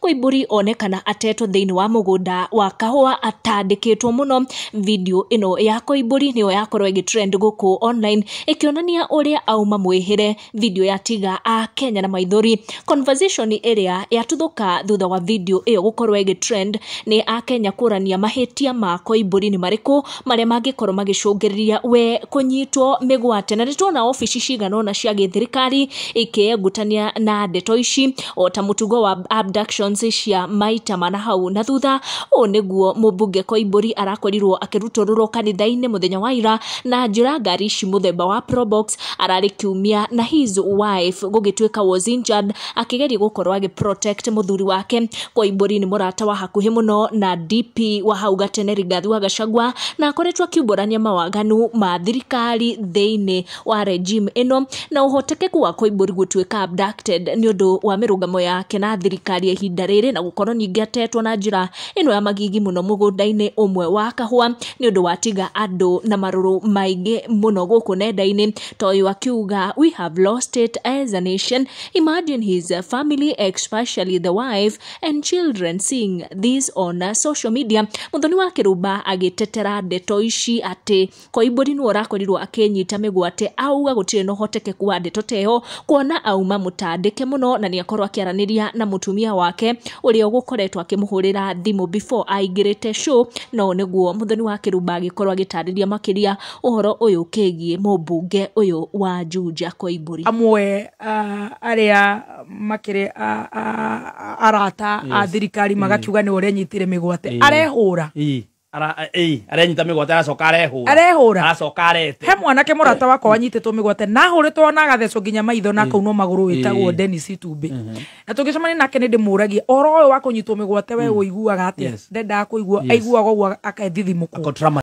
Koimburi onekana atetwo thĩinĩ wa mũgũnda wa kahũa atandĩkĩtwo mũno. Video ĩno ya Koimburi nĩyo yakorwo ĩgĩtrend gũkũ online ĩkĩonania ũrĩa auma mwĩhĩre. Video ya Tiga a Kenya na maithori. Conversation ĩrĩa yatuthũka thutha wa video ĩyo gũkorwo ĩgĩtrend nĩ a Kenya kũrania mahĩtia ma Koimburi nĩ marĩkũ. marĩa mangĩkorwo magĩcũngĩrĩria we kũnyitwo mĩgwate na nĩ tuona obici cigana ũna cia gĩthirikari ikĩengutania na ndeto ici o ta mũtugo wa abductions cia maita mana hau na thutha ũũ nĩguo mũmbunge koimbũri arakorirwo akĩrutũrũrwo kanitha-inĩ mũthenya wa ira na njĩra ngari ici mũthemba wa probox ararĩ kiumia na his wife gũgĩtuĩka was injured akĩgeria gũkorwo agĩ protect mũthuri wake Koimbũri nĩ mũrata wa hakuhĩ mũno na DP wa hau gatene Rigathi wa Gachagua na akoretwo akiumbũrania mawaganu ma thirikari thĩinĩ wa regime ĩno na ũhotekeku wa Koimbũri gũtuĩka abducted nĩ ũndũ wa mĩrũgamo yake na thirikari ya ihinda rĩrĩ na gũkorwo ningĩ atetwo na njĩra ĩno ya magigi mũno mũgũnda-inĩ ũmwe wa kahũa nĩ ũndũ watiga andũ na marũrũ maingĩ mũno gũkũ nenda-inĩ toyũ akiuga we have lost it as a nation Imagine his uh, family, especially the wife and children seeing this on uh, social media. Muthoni wa Kiruba agitetera ndeto ici ati Koimburi nĩ ũrakorirwo akĩnyita mĩgwate auga gũtirĩ na ũhotekeku wa ndeto teho kuona auma mũtandĩke mũno na nĩ akorwo akĩaranĩria na mũtumia wake ũrĩa ũgũkoretwo akĩmũhũrĩra thimũ before aingĩrĩte show no nĩguo Muthoni wa Kiruba agĩkorwo agĩtarĩria makĩria ũhoro ũyũ ũkĩgiĩ mũmbunge ũyũ wa Juja Koimbũri. Amwe arĩa makĩrĩ arata a thirikari magakiuga nĩwe ũrenyitire mĩgwate arehũra arenyita mĩgwate aracoka arehũra arehũra aracoka arete he mwanake mũrata wakwa wanyitĩtwo mĩgwate na ahũrĩtwo na agathecwo nginya maitho na akaunwo magũrũ wĩtagwo Dennis Itumbĩ na tũgĩcemania nake nĩ ndĩmũragia ũhoro ũyũ wa kũnyitwo mĩgwate we ũiguaga atĩa ndendaga kũigua aiguaga ũguo akethithimũkwo